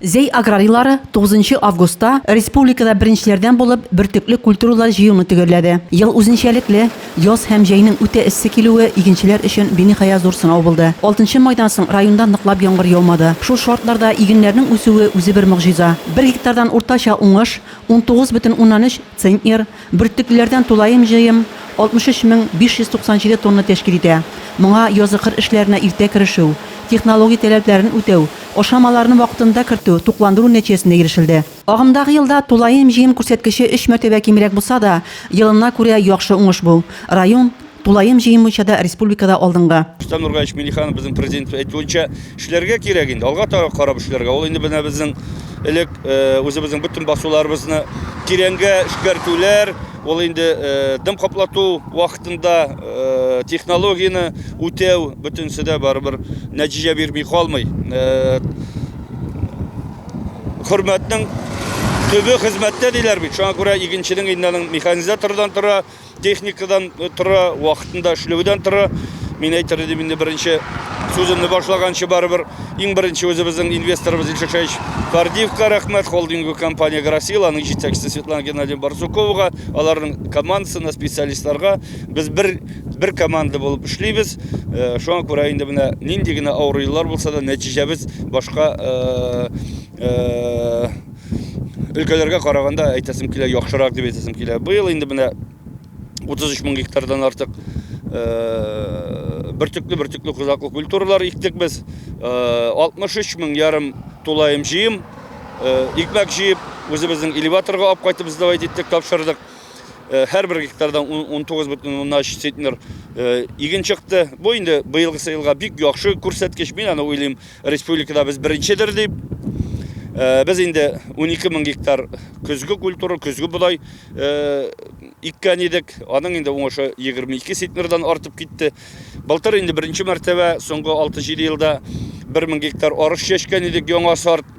Зәй аграрийлары тугызынчы августта республикада беренчеләрдән булып бөртекле культуралар җыюны төгәлләде. Ел үзенчәлекле, яз һәм җәйнең үтә эссе килүе игенчеләр өчен биниһая зур сынау булды. Алтынчы майдан соң районда ныклап яңгыр яумады. Шул шартларда игеннәрнең үсүе үзе бер могҗиза. Бер гектардан уртача уңыш, унтугыз бөтен уннан өч центнер, Бөртеклеләрдән тулаем җыем 63 мең 597 тонна тәшкил итә. Моңа язгы-кыр эшләренә иртә керешү, технологик таләпләрен үтәү, ашамаларны вакытында кертү, тукландыру нәтиҗәсендә ирешелде. Агымдагы елда тулаем җыем күрсәткече өч мәртәбә кимрәк булса да, елына күрә яхшы уңыш бу. Район. Тулаем җыен буенча да республикада алдынгы. Рөстәм Нургалич Миңнеханов безнең Президентыбыз әйтүенчә, эшләргә кирәк инде, алга таба карап эшләргә. Ул инде менә безнең элек үзебезнең бөтен басуларыбызны тирәнгә эшкәртүләр, ул инде дым каплату вакытында технологияне үтәү, бөтенесе дә барыбер нәтиҗә бирми калмый. Хөрмәтнең төбе хезмәттә диләр бит, шуңа күрә игенченең инде аның механизатордан тора, техникадан тора, вакытында эшләүдән тора. Мин әйтер идем инде беренче сүземне башлаганчы барыбер иң беренче үзебезнең инвесторыбыз Илшишевич Кардиевка рәхмәт, холдинг компания Грасил, аның җитәкчесе Светлана Геннадьевна Барсуковага, аларның командасына, специалистларга без бер бер команда булып эшлибез. Э, шуңа күрә инде менә нинди генә авыр еллар булса да нәтиҗәбез башка э, э, өлкәләргә караганда әйтәсем килә яхшырак дип әйтәсем килә быел инде менә 33 мең гектардан артык бөртекле бөртекле кузаклы культуралар иктек без 63 мең ярым тулаем җыем икмәк җыеп үзебезнең элеваторга алып кайтып сдавать иттек тапшырдык һәрбер гектардан 19 бөтен уннан өч центнер иген чыкты бу инде быелгысы елга бик яхшы күрсәткеч мин аны уйлыйм Республикада без беренчедер дип, э, без инде 12 мең гектар көзге культура, көзге бодай э, иккән идек. Аның инде уңышы 22 сетнердан артып китте. Былтыр инде беренче мәртәбә соңгы 6-7 елда 1 мең гектар арыш чәчкән идек, яңа сорт.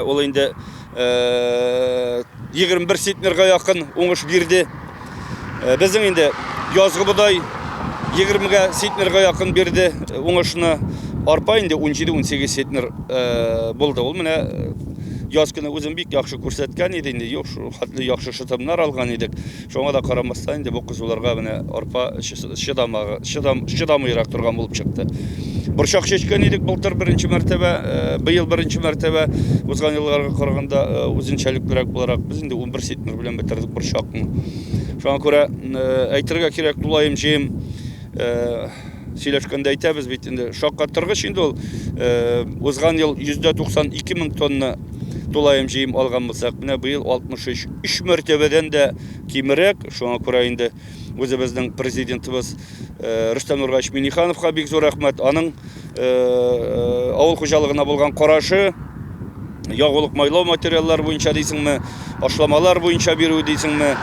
Ул инде 21 центнерга якын уңыш бирде. Безнең инде язгы бодай 20-гә центнерга якын бирде уңышны. Арпа инде 17-18 центнер булды. Ул менә яз көне үзен бик яхшы күрсәткән иде инде. Юк, шул хәтле яхшы шытымнар алган идек. Шуңа да карамастан, инде бу кызуларга менә арпа чыдамагы, чыдам, чыдамыйрак торган булып чыкты. Борчак чәчкән идек былтыр беренче мәртәбә, э, быел беренче мәртәбә узган елларга караганда э, үзенчәлеклерәк буларак без инде 11 сетмер белән бетердек борчакны. Шуңа күрә э, әйтергә кирәк, тулаем җыем сөйләшкәндә әйтәбез бит инде. Шаккатыргыч инде ул узган ел 192 мең тонна тулаем җыем алган булсак, менә быел 63 Өч мәртәбәдән дә кимерәк, шуңа күрә инде үзебезнең президентыбыз э, Рөстәм Нургач Минихановка бик зур рәхмәт. Аның э, э, авыл хуҗалыгына булган карашы, ягулык майлау материаллар буенча дисеңме, ашламалар буенча бирү дисеңме,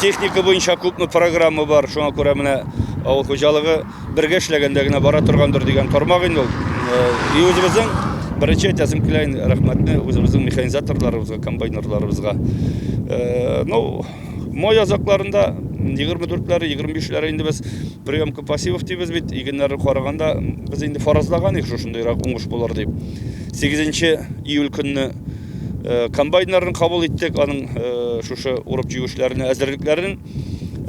техника буенча күпме программа бар, шуңа күрә менә авыл хуҗалыгы Бергә эшләгәндә генә бара торгандыр дигән тармак инде ул. И үзебезнең беренче әйтәсем килә инде рәхмәтне үзебезнең механизаторларыбызга, комбайнерларыбызга. Ну, май азакларында 24-ләре, 25-ләре инде без приемка пассивов дибез бит. Игеннәрне караганда без инде фаразлаган идек шушындыйрак уңыш булыр дип. 8 июль көнне комбайннарны кабул иттек, аның шушы урып җигүчеләренә әзерлекләрен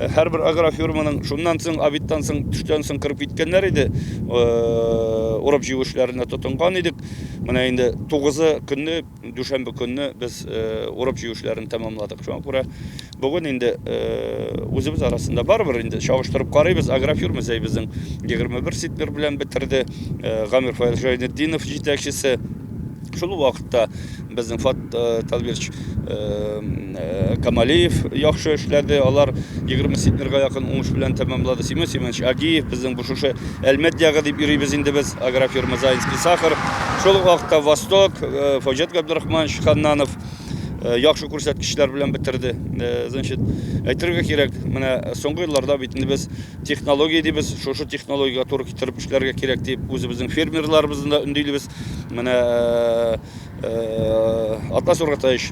Һәрбер агрофирманың шуннан соң, обедтан соң, төштән соң кырып киткәннәр иде. Урып җыю эшләренә тотынган идек. Менә инде 9-ы көнне, дүшәмбе көнне без урып җыю эшләрен тәмамладык. Шуңа күрә бүген инде үзебез арасында барыбер инде чагыштырып карыйбыз. Агрофирма зәй безнең 21 ситмер белән бетерде. Гамир Фаил Жайнетдинов җитәкчесе. Шул вакытта безнең Фат Талбирч Э, Камалиев яхшы эшләде, алар 20 центнерга якын уңыш белән тәмамлады. Семен Семенович Агиев безнең бу шушы Әлмәт ягы дип йөрибез инде без, агрофирма Заинский сахар. Шул ук вакытта Восток, э, Фаҗет Габдрахманович Ханнанов э, яхшы күрсәткечләр белән бетерде. Значит, әйтергә кирәк, менә соңгы елларда бит инде без технология дибез, шушы технологиягә туры китереп эшләргә кирәк дип үзебезнең фермерларыбызны да өндилебез. Менә Атлас Ургатаевич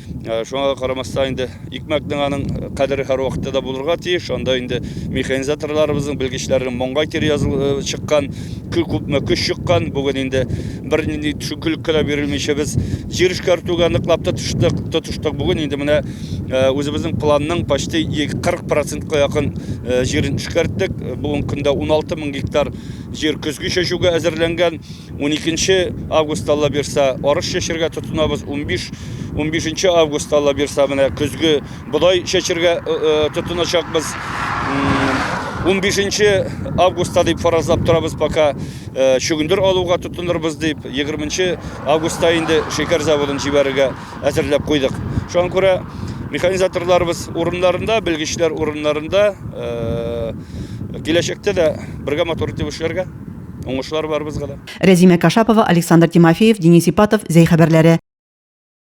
Ә, шуңа да карамастан инде икмәкнең аның кадере һәрвакытта да булырга тиеш. Анда инде механизаторларыбызның, белгечләрнең моңга кире языл э, чыккан, кө- күпме көч чыккан. Бүген инде бернинди төшенкелеккә дә бирелмичә без җир эшкәртүгә ныклап тотыштык, тотыштык. Бүген инде менә э, үзебезнең планның почти 40 процентка якын э, җирен эшкәрттек. Бүгенге көндә 16 мең гектар җир көзге чәчүгә әзерләнгән. 12 август алла бирса арыш чәчергә тотынабыз 15 15 август алла бирса менә көзге бодай чәчергә э, э, тотыначакбыз 15 августта дип фаразлап торабыз пока э, чөгендер алуга тотынырбыз дип 20 августта инде шекер заводын җибәрергә әзерләп куйдык шуңа күрә механизаторларыбыз урыннарында белгечләр урыннарында э, киләчәктә дә бергә матур итеп эшләргә Уңышлар барыбызга да. Рәзимә Кашапова, Александр Тимофеев, Денис Ипатов, Зәй хәбәрләре.